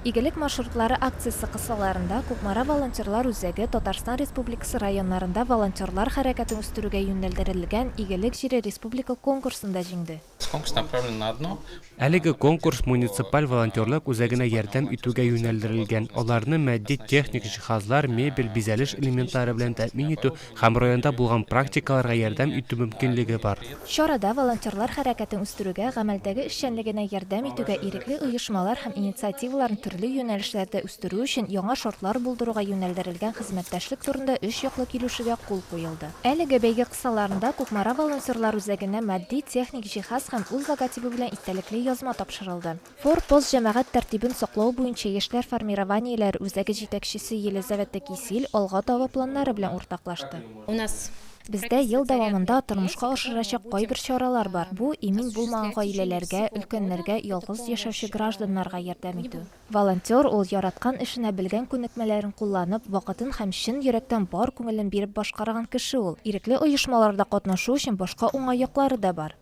Игелек маршрутлары акциясе кысаларында Кукмара волонтерлар үзәге Татарстан Республикасы районнарында волонтерлар хәрәкәтен үстерүгә юнәлдерелгән Игелек җире республика конкурсында җиңде. Әлеге конкурс муниципаль волонтерлык үзәгенә ярдәм итүгә юнәлдерелгән, аларны матди-техник җиһазлар, мебель, бизәлеш элементлары белән тәэмин итү һәм районда булган практикаларга ярдәм итү мөмкинлеге бар. Чарада волонтерлар хәрәкәтен үстерүгә, гамәлдәге эшчәнлегенә ярдәм итүгә, ирекле оешмалар һәм инициативаларын төрле юнәлешләрдә үстерү өчен яңа шартлар булдыруга юнәлдерелгән хезмәттәшлек турында өч яклы килешүгә кул куелды. Әлеге бәйге кысаларында Кукмара волонтерлар үзәгенә матди-техник җиһаз һәм үз логотибы белән истәлекле язма тапшырылды. Фор пост җәмәгать тәртибен саклау буенча яшьләр формированиеләре үзәге җитәкчесе Елизавета Кисиль алга таба планнары белән уртаклашты. Бездә ел дәвамында тормышка ашырачак кайбер чаралар бар, бу, имин булмаган гаиләләргә, өлкәннәргә, ялгыз яшәүче гражданнарга ярдәм итү. Волонтер ул, яраткан эшенә белгән күнекмәләрен кулланып, вакытын һәм чын йөрәктән бар күңелен биреп башкарган кеше ул. Ирекле оешмаларда катнашу өчен башка уңай яклары да бар.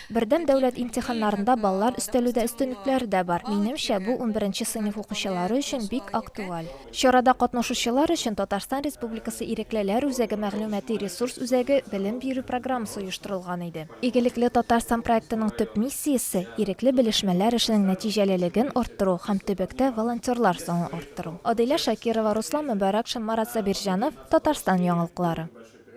Бердәм дәүләт имтиханнарында баллар өстәлүдә өстенлекләре дә бар. Минемчә, бу унберенче сыйныф укучылары өчен бик актуаль. Чарада катнашучылар өчен Татарстан Республикасы Иреклеләр үзәге мәгълүмати-ресурс үзәге белем бирү программасы оештырылган иде. Игелекле Татарстан проектының төп миссиясе, ирекле белешмәләр эшенең нәтиҗәлелеген арттыру һәм төбәктә волонтерлар санын арттыру. Адилә Шакирова, Руслан Мөбарәкшин, Марат Сабирҗанов, Татарстан яңалыклары.